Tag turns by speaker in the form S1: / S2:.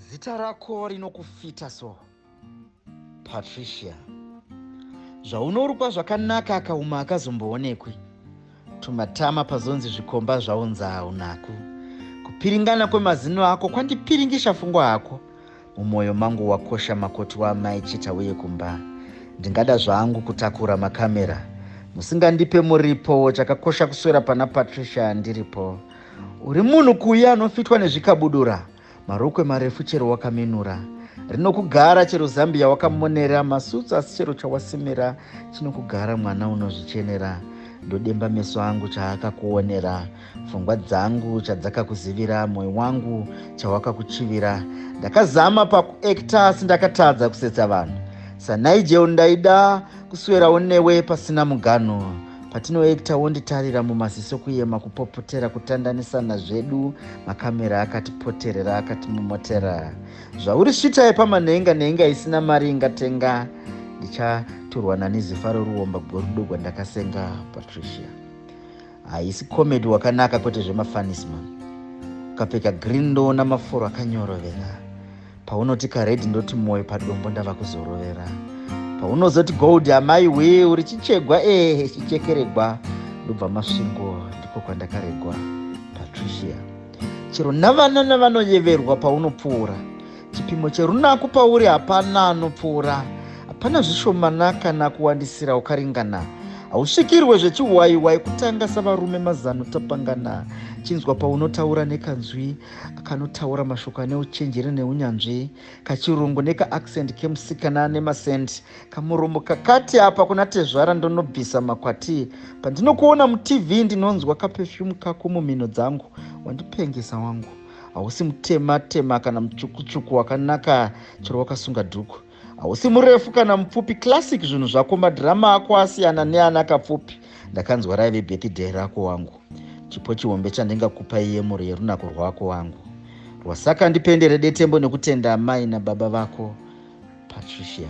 S1: zita rako rinokufita so patricia zvaunorukwa zvakanaka akauma akazomboonekwi tumatama pazonzi zvikomba zvaunza unaku kupiringana kwemazino ako kwandipiringisha fungwa hako Mumoyo mangu wakosha makoti waamai Chita uye kumba. Ndingada zvangu kutakura makamera. Musingandipe muripo chakakosha kuswera pana Patricia ndiripo. Uri munhu kuuya anofitwa nezvikabudura, marokwe marefu chero wakaminura. Rinokugara chero zambiya wakamonera, masutsu asi chero chawasimira chinokugara mwana unozvichenera. Ndodemba meso angu chaakakuonera. pfungwa dzangu chadzakakuzivira moyo wangu chawakakuchivira ndakazama pakuekta asi ndakatadza kusetsa vanhu sanigel ndaida kuswerawo newe pasina muganho patinoekta wonditarira mumaziso kuyema kupopotera kutandanisana zvedu makamera akatipoterera akatimomotera zvauri svita yepama nhenga nhenga isina mari ingatenga ndichaturwa nani zifaro ruomba gorudo gwandakasenga patricia haisi comedy wakanaka kwete zvemafanis man ukapfeka green ndoona mafuro akanyorovera paunoti kared ndoti moyo padombo ndava kuzorovera paunozoti gold amai wee uri chichegwa ee eh, chichekeregwa ndobva masvingo ndiko kwandakaregwa patricia chero navanana vanoyeverwa paunopfuura Chipimo cherunaku pauri hapana anopfuura, hapana zvishomana kana kuwandisira ukaringana. Hausvikirwe zvechiwaiwai kutanga savarume mazano tapangana. Chinzwa paunotaura nekanzwi kanotaura mashoko ane uchenjeri neunyanzvi, kachirungu nekaaccent kemusikana ane masent, kamuromo kakati apa kuna tezvara ndonobvisa makwati. Pandinokuona mutv ndinonzwa kapefyumu kako mumhino dzangu, wandipengesa wangu. hausi mutema tema kana mutsvukutsvuku wakanaka chero wakasunga dhuku hausi murefu kana mupfupi classic zvinhu zvako madhirama ako asiyana neana kapfupi ndakanzwa raive birthday rako wangu chipo chihombe chandingakupa iye mhuri yerunako rwako wangu rwasaka ndipendere detembo nekutenda amai nababa vako patricia